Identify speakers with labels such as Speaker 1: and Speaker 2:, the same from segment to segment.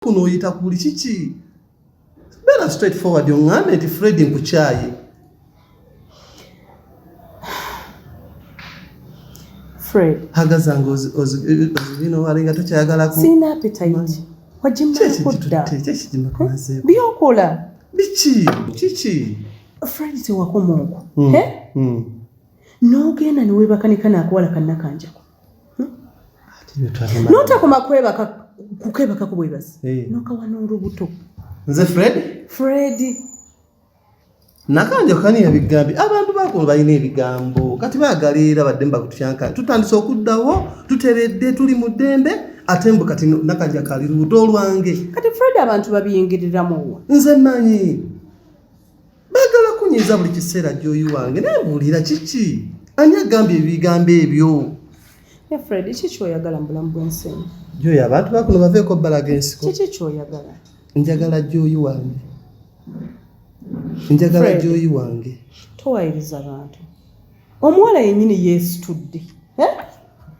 Speaker 1: kuno oyita kuli kiki beera straight forward oŋŋambe nti fred nkukyaye
Speaker 2: fred hagaza nga
Speaker 1: ozibina wali nga tokyayagalaku sirina appetite
Speaker 2: wagimmakuddabyokola biki
Speaker 1: kiki fred
Speaker 2: tewakoma okwo hmm, hmm. n'ogenda newebakanika nakuwala kannakanjako notakoma kwebaka kukwebakako bwebazi eh. nokawa n'olubuto nze fred
Speaker 1: fred nakanjo kani ebigambi abantu bakulu balina ebigambo kati bagala era badde mbakutyanka tutandise okuddawo tuteredde tuli mu ddembe ate mbu kati nakaja kali lubuto olwange kati fred abantu
Speaker 2: babiyingiriramuwa nze manyi
Speaker 1: bagala kunyiza buli kiseera gyoyi wange naye mbuulira kiki ani agambye ebigambo ebyo efred
Speaker 2: ki kyoyagala mu bulamu bwensi eno gyoyi abantu bakuno
Speaker 1: baveeko balaga ensiko kiki kyoyagala
Speaker 2: njagala gyoyi
Speaker 1: wange njagala gyoyi wange towayiriza
Speaker 2: bantu omuwala yennyini yeesitudde eh?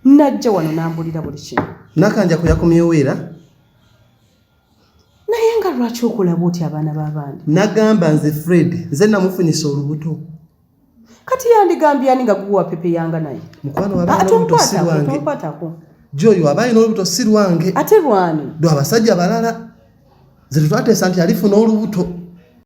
Speaker 2: najja wano nambulira buli kimu nakanja kuyakomyewo
Speaker 1: era
Speaker 2: naye nga lwaki okola bwoti abaana b'abandi nagamba nze
Speaker 1: fred nze namufunyisa olubuto kati
Speaker 2: yandigambye ani nga guwa pepe yanga naye mukwano
Speaker 1: wabaomukwatako gyoyo aba alina olubuto si lwange ate lwani lwabasajja balala nze tetwateesa
Speaker 2: nti
Speaker 1: alifuna olubuto